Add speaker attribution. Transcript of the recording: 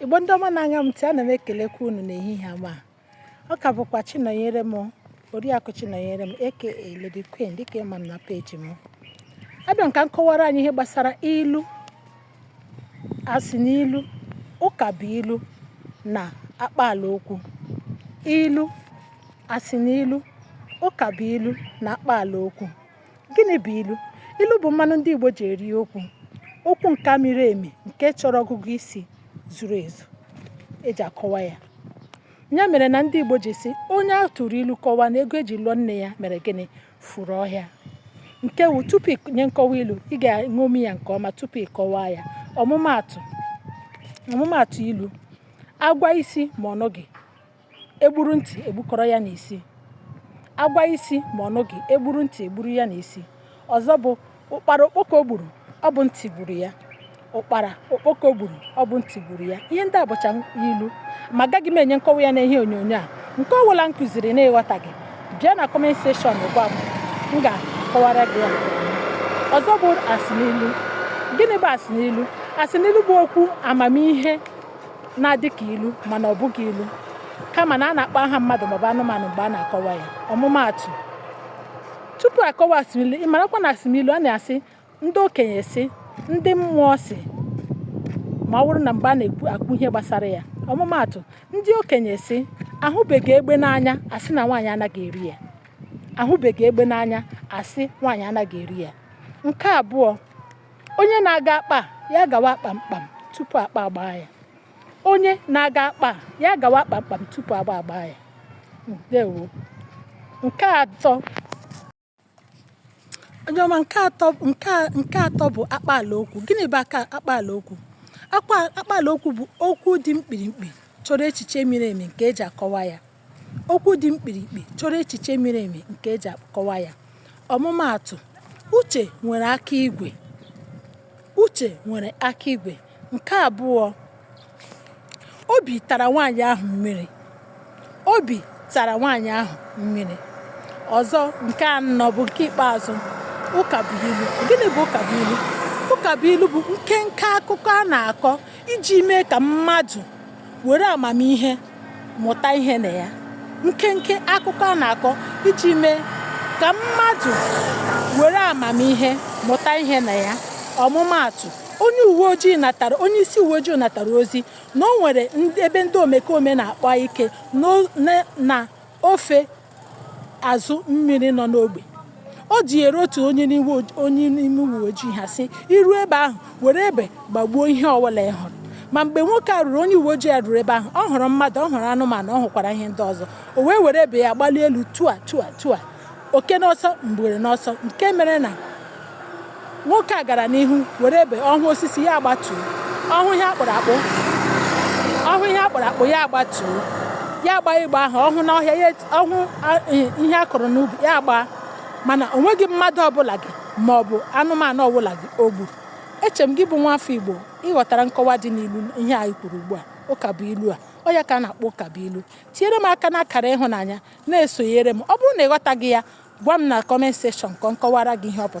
Speaker 1: Igbo ndị ọma na-anya m ntị, ana m ekelekwa unu n'ehihie a ma ọ ka bụkwa Chinọnyerem Oriakụ Chinọnyerem aka Lady Queen dịka ị ma m na peji m abịa m ka m kọwara anyị ihe gbasara ilu asịnilu ụkabuilu na akpaala okwu ilu asịnilu ụkabuilu na akpaala okwu Gịnị bụ ilu? Ilu bụ mmanụ ndị Igbo ji eri okwu. Okwu nke miri emi nke chọrọ ọgụgụ isi zuru ezu e ji akọwa ya. Ya mere na ndị Igbo ji sị onye a tụrụ ilu kọwaa na ego e ji lụọ nne ya mere gịnị furu ọhịa. Nke wu tupu i nye nkọwa ilu ị ga-eṅomi ya nke ọma tupu ị kọwaa ya. Ọmụmaatụ ilu a gwa isi ma ọ nụghị e gburu ntị e gbukọrọ ya n'isi. A gwa isi ma ọ nụghị, e gburu ntị e gburu ya n'isi. Ọzọ bụ ụkpara okpoko gburu, ọ bụ ntị gburu ya. Ụkpara okpoko gburu, ọ bụ ntị gburu ya. Ihe ndị a bụcha ilu ma agaghị m enye nkọwa ya n'ihe onyonyo a. Nke ọ bụla m kụziri na ị ghọtaghị, bịa na comment section gwa m, m ga-akọwara gị ya. Ọzọ bụ asịnilu. Gịnị bụ asịnilu? Asịnilu bụ okwu amamihe na-adị ka ilu mana ọ bụghị ilu kama na a na-akpọ aha mmadụ maọbụ anụmanụ mgbe a na-akọwa ya ọmụmaatụ tupu a kọwaa asịnilu ị marakwa na asịnilu a na-asị ndị okenye sị ndị mmụọ sị ma ọ bụrụ na mgbe a na-ekwu ihe gbasara ya ọmụmaatụ ndị okenye sị ahụbeghị egbe n'anya a sị na nwaanyị anaghị eri ya ahụbeghị egbe n'anya a sị nwaanyị anaghị eri ya nke abụọ onye na-aga akpa ya gawa kpamkpam tupu akpa agbaa ya onye na-aga akpa ya gawa kpamkpam tupu agba agbaa ya ndewo onye ọma nke atọ bụ akpaala okwu gịnị bụ akpaala okwu akpaala okwu bụ okwu dị mkpirikpi chọrọ echiche miri emi nke e ji akọwa ya Okwu dị mkpirikpi chọrọ echiche miri emi nke e ji akọwa ya. Ọmụmaatụ, Uche nwere aka igwe. Uche nwere aka igwe. Nke abụọ, obi tara nwaanyị ahụ mmiri. Obi tara nwaanyị ahụ mmiri. Ọzọ, nke anọ bụ nke ikpeazụ, ụkabuilu. Gịnị bụ ụkabuilu? Ụkabuilu bụ nkenke akụkọ a na-akọ iji mee ka mmadụ were amamihe mụta ihe na ya nkenke akụkọ a na-akọ iji mee ka mmadụ were amamihe mụta ihe na ya ọmụmaatụ onye uwe ojii natara onye isi uwe ojii natara ozi na o nwere ebe ndị omekome na-akpa ike na ofe azụ mmiri nọ n'ogbe o dunyere otu onye n'ime uwe ojii ha sị i ru ebe ahụ were egbe gbagbuo ihe ọbụla ị hụrụ ma mgbe nwoke a ruru onye uwe ojii a ruru ebe ahụ ọ hụrụ mmadụ ọ hụrụ anụmanụ ọ hụkwara ihe ndị ọzọ o wee were egbe ya gbalie elu tua tua tua oke n'ọsọ ngwere n'ọsọ nke mere na Nwoke a gara n'ihu were egbe ọ hụ osisi ya agbatuo, ọ hụ ihe a kpụrụ akpụ ya agbatuo, ya gbaa ịgba ahụ ọ hụ n'ọhịa ya ọ hụ ihe a kụrụ n'ubi ya gbaa mana o nweghị mmadụ ọbụla gị ma ọ bụ anụmanụ ọbụla gị o gburu. Eche m gị bụ nwafọ Igbo ị ghọtara nkọwa dị n'ilu ihe anyị kwuru ugbu a ụka bụ ilu a ọ ya ka a na-akpọ ụka bụ ilu tinyere m aka n'akara ịhụnanya na-esonyere m ọ bụrụ na ị ghọtaghị ya gwa m na comment section ka m kọwara gị ihe ọ pụtara